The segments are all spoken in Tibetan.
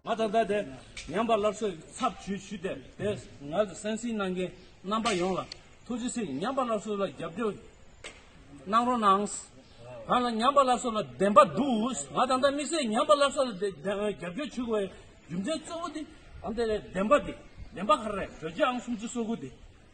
ང་ད་ལྟ་དེ་ཉམས་པ་སླར་གསོའི་ཚབ་ཇུས་ཞུས་ཏེ་དེ་ང་ཚོ་སེམས་གསིང་གནང་མཁན་རྣམ་པ་ཡོངས་ལ་ཐུགས་རྗེ་ཆེ་ཉམས་པ་སླར་གསོ་ལ་རྒྱབ་སྐྱོར་གནང་རོགས་གནང། ང་ལ་ཉམས་པ་སླར་གསོ་ལ་བདེན་པ་འདུག་ང་ད་ལྟ་དམིགས་བསལ་ཉམས་པ་སླར་གསོ་ལ་རྒྱབ་སྐྱོར་ཞུ་དགོས་པའི་རྒྱུ་མཚན་གཙོ་བོ་དེ་ཨང་དེ་རེད་བདེན་པ་དེ་བདེན་པ་ག་རེ་རེད་བོད་རྒྱའམ་སུམ་ཅུ་སོ་དགུ་དེ་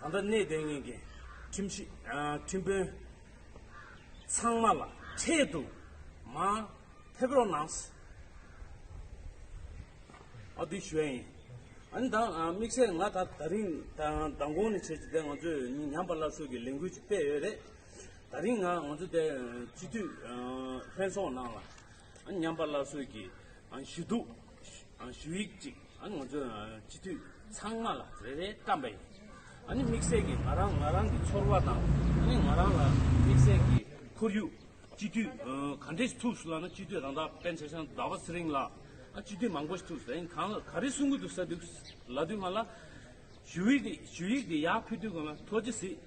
ད་ལྟ་གནས་དེ་གཉིས་ཀྱི་ཁྲིམས་ཞིབ་ཁྲིམས་དཔོན་ཚང་མ་ལ་འཕྲལ་དུ་མ་ཕེབས་རོགས་གནང། ཨ་འདི་ཞུ་ཡ་ཡིན། ཨ་ནི་ད་དམིགས་བསལ་ང་ད་ད་རིང་མདང་དགོང་ནས་བྱེད་ཅིག་དེ་ང་ཚོས་ཉམས་པ་སླར་གསོ་གི་ལས་འགུལ་ཅིག་སྤེལ་ཡོད་རེད། ད་རིང་ང་ང་ཚོ་དེ་སྤྱི་འཐུས་ལྷན་ཚོགས་ནང་ལ་ཉམས་པ་སླར་གསོས་ཀྱི་ཞུ་གཏུགས་ཞུ་ཡིག་ཅིག་ང་ཚོའི་སྤྱི་འཐུས་ཚང་མ་ལ་རེ་རེ་བཀྲམ་པ་ཡིན། དམིགས་བསལ་གྱིས་ང་རང་ང་རང་གི་ཚོར་བ་དང་ང་རང་ལ་དམིགས་བསལ་གྱི་ཁོར་ཡུག་སྤྱི་འཐུས་ག་འདྲས་ཐུགས་སུ་བླངས་ན་སྤྱི་འཐུས་རང་བདག་པན་ཆེ་ཤང་ཟླ་བ་ཚེ་རིང་ལགས་སྤྱི་འཐུས་མང་པོ་ཞིག་ཐུགས་སུ་ལེན་གང་ག་རེ་གསུང་གི་འདུག་ས་འདུག་ལབ་དུས་སྔ་ལ་ཞུ་ཡིག་དེ་ཡག་ཕུལ་དུས་གོ་ན་ཐོ་ཅི་སྲིད་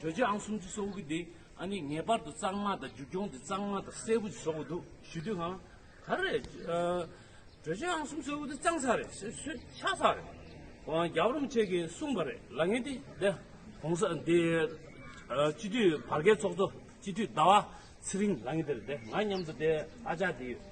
གྲོས་ཆོད་ཨང་གསུམ་ཅུ་སོ་དགུ་གི་དེ་ཨ་ནི་ངེས་པར་དུ་གཙང་མ་དང་རྒྱུ་གྱོང་དེ་གཙང་མ་དང་གསལ་བོ་བཟོ་དགོས་འདུག་ཞུ་དུས་ཧང་ག་རེད། གྲོས་ཆོད་ཨང་གསུམ་གསོལ་བོ་དེ་གཙང་ས་རེད་ཆགས་ས་རེད། རྒྱབ་རོམ་བཅས་ཀྱིས་གསུངས་པ་རེད་ལ་ངེས་ཏེ་དེ་གོང་ས་འདི་སྤྱི་འཐུས་བར་བརྒལ་ཚོགས་གཙོ་སྤྱི་འཐུས་ཟླ་བ་ཚེ་རིང་ལགས་ངེས་དེར་དེ་ང་སྙམ་དུ་དེ་ཨ་ཅག་དེ།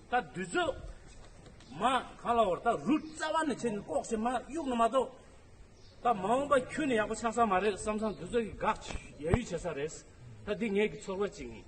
ད་བདུད་རྩི། མ། གང་ལ་བར་ད་རུ་རྩ་བ་ནས་བྱས་ནས་ལྐོག་བྱེད་མ་དབྱུག་ནི་མ་གཏོགས། ད་མ་འོངས་པ་ཁྱོད་ནི་ཡག་པོ་ཆགས་ས་མ་རེད་བསམ་བསམ་བདུད་རྩི་གིས་དགག་ཡ་ཡུས་བྱེད་ས་རེད། ད་འདི་ངེད་ཀྱི་ཚོར་བ་ཅིག་ཡིན།